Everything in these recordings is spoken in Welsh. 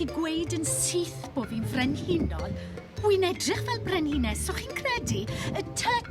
gallu gweud yn syth bod fi'n frenhinol, wi'n edrych fel brenhines, so chi'n credu, y tŷ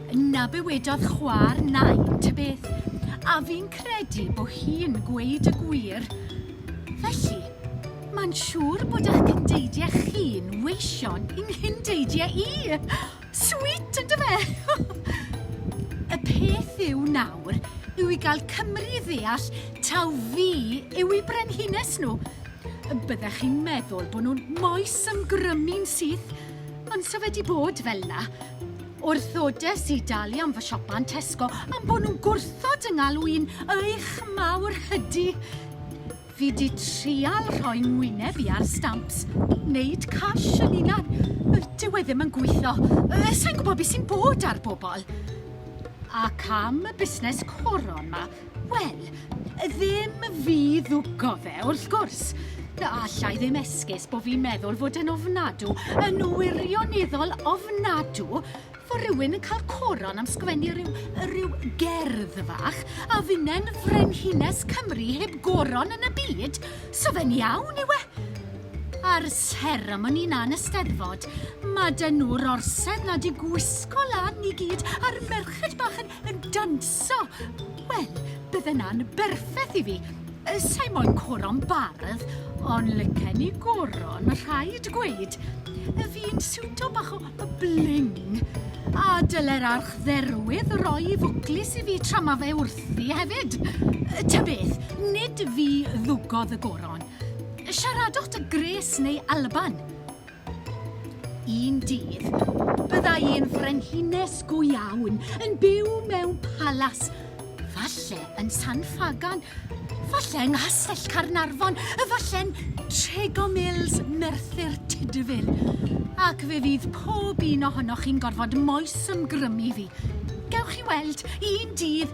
Na bywedodd chwa'r nain ta beth, a fi'n credu bo hi'n gweud y gwir. Felly, mae'n siŵr bod ych cyndeidiau chi'n weision i nghyn-deidiau i! Sweet, ynde fe? y peth yw nawr yw i gael Cymru i ddeall taw fi yw eu brenhines nhw. Byddech chi'n meddwl bod nhw'n moes ymgrymu'n syth, ond so fe di bod fel 'na. Wrthodes i dalu am fy siopa yn Tesco am bo' nhw'n gwrthod 'y ngalw i'n eich mawr hydi. Fi 'di trial rhoi ngwyneb i ar stamps, neud cash yn unan, yy dyw e ddim yn gweitho, yy sai'n gwbo be' sy'n bod a'r bobol. Ac am y busnes coron 'ma. Wel, ddim fi ddwgo fe, wrth gwrs. Alla i ddim esgus bod fi'n meddwl fod yn ofnadw, yn wirioneddol ofnadw, fod rhywun yn cael coron am sgwennu rhyw, rhyw gerdd fach a finnen frenhines Cymru heb goron yn y byd, so fe'n iawn yw e. A'r seremoni 'na yn y Steddfod, ma' 'da nhw'r orsedd 'na 'di gwisgo lan i gyd a'r merched bach yn yn danso. Wel, bydde 'na'n berffeth i fi. Yy, Sa'i moyn coron bardd, ond lycen i goron, ma' rhaid gweud. Yy, Fi'n siwto bach o o bling. A dyle'r archdderwydd roi 'i fwclis i fi tra ma' fe wrthi hefyd. Yy, Ta beth, nid fi ddwgodd y goron. Siaradwch 'da Grace neu Alban. Un dydd, byddai un frenhines go iawn yn byw mewn palas, falle yn San Ffagan, falle yng Nghastell Caernarfon, efalle'n Trego Mills, Merthyr Tudful, ac fe fydd pob un ohonoch chi'n gorfod moesymgrymu fi. Gewch chi weld, un dydd,